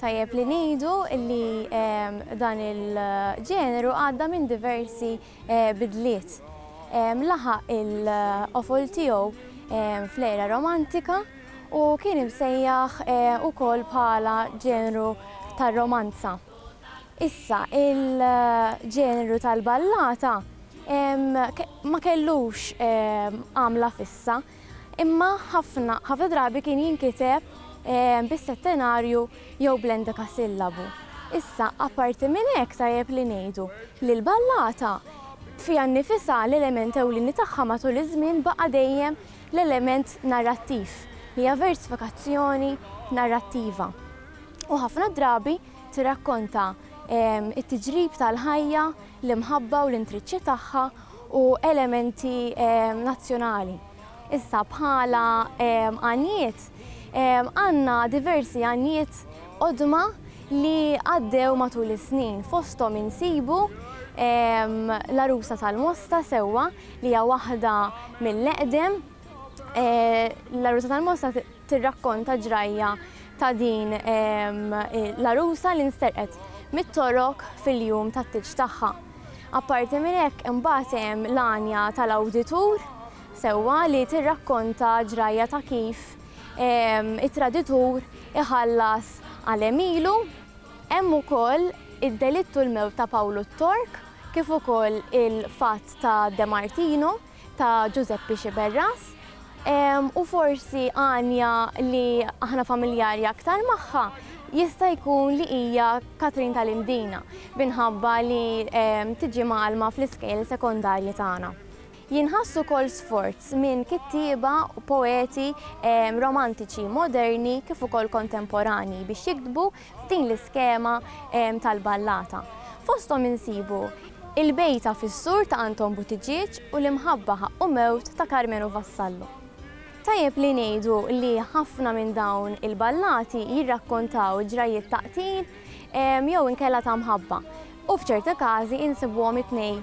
Tajjeb li ngħidu li dan il-ġeneru għadda minn diversi bidliet. Laħaq il-qofol tiegħu fl-era romantika u kien imsejjaħ ukoll bħala ġeneru tar-romanza. Issa il-ġeneru tal-ballata ma kellux għamla fissa Imma ħafna ħafna drabi kien jinkiteb bis-settenarju jew bl-endekasillabu. Issa, apparti minn hekk tajjeb li ngħidu li l-ballata fiha nnifisha l-element ewlieni tagħha matul iż-żmien baqa' dejjem l-element narrattiv, li hija versifikazzjoni narrattiva. U ħafna drabi tirrakkonta t-tiġrib tal-ħajja, l-imħabba u l-intriċċi tagħha u elementi nazzjonali. Issa bħala għanjiet, għandna diversi għanjiet qodma li għaddew matul is-snin, fosthom insibu l-Għarusa tal-Mosta sewwa li hija waħda mill-eqdem, l-Għarusa tal-Mosta, tirrakkonta ġrajja ta' din l-għarusa li nsterqet mit-Torok fil-jum tat-tieġ tagħha. Apparti minn hekk imbagħad hemm l-għanja tal-awditur sewwa li tirrakkonta ġrajja ta' kif it-traditur iħallas għal għemilu. Hemm ukoll Id-delitt u l-mewt ta' Pawlu t-Tork kif ukoll il-fatt ta' De Martino. ta' Ġużeppi Sciberras u forsi Anja li aħna familjari aktar magħha jista' jkun li hija Katrin tal-Imdina minħabba li tiġi mgħallma fl-iskejjel sekondarji tagħna. Jinħass ukoll sforz minn kittieba u poeti romantiċi moderni kif ukoll kontemporanji biex jiktbu f'din l-iskema tal-ballata. Fosthom insibu Il-bejta fis-sur ta' Anton Buttigieg u L-imħabba ħaqqu mewt ta' Karmenu Vassallo. Tajjeb li ngħidu li ħafna minn dawn il-ballati jirrakkontaw ġrajjiet ta' qtil jew inkella ta' mħabba u f'ċerti każi insibuhom it-tnejn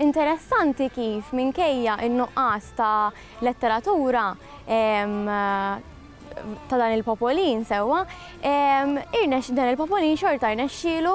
Interessanti kif minkejja n-nuqqas ta' letteratura ta' dan il-popolin sewwa, dan il-popolin xorta rnexxielu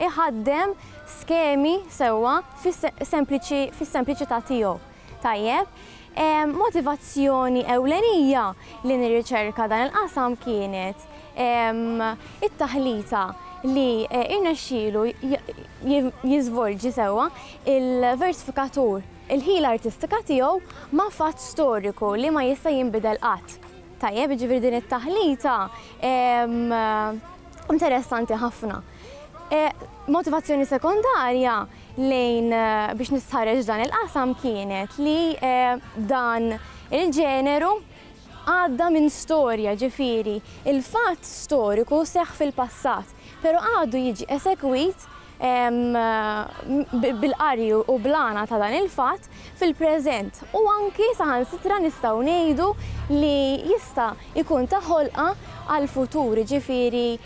iħaddem skemi sewwa fis-sempliċità tiegħu. Tajjeb. Motivazzjoni ewlenija li nirriċerka dan il-qasam kienet it-taħlita li rnexxielu jiżvolġi sewwa il-versifikatur, il-ħila artistika tiegħu ma' fatt storiku li ma jista' jinbidel qatt. Tajjeb, jiġifieri din it-taħlita interessanti ħafna. E, motivazzjoni sekondarja lejn e, biex nistħarreġ dan il-qasam kienet li e, dan il-ġeneru għadda minn storja ġifiri il-fatt storiku seħ fil-passat, pero għadu jiġi esekwit bil-qarju u blana ta' dan il-fatt fil-preżent u anki saħan sitra nistaw nejdu li jista' ikun taħolqa għal-futur ġifiri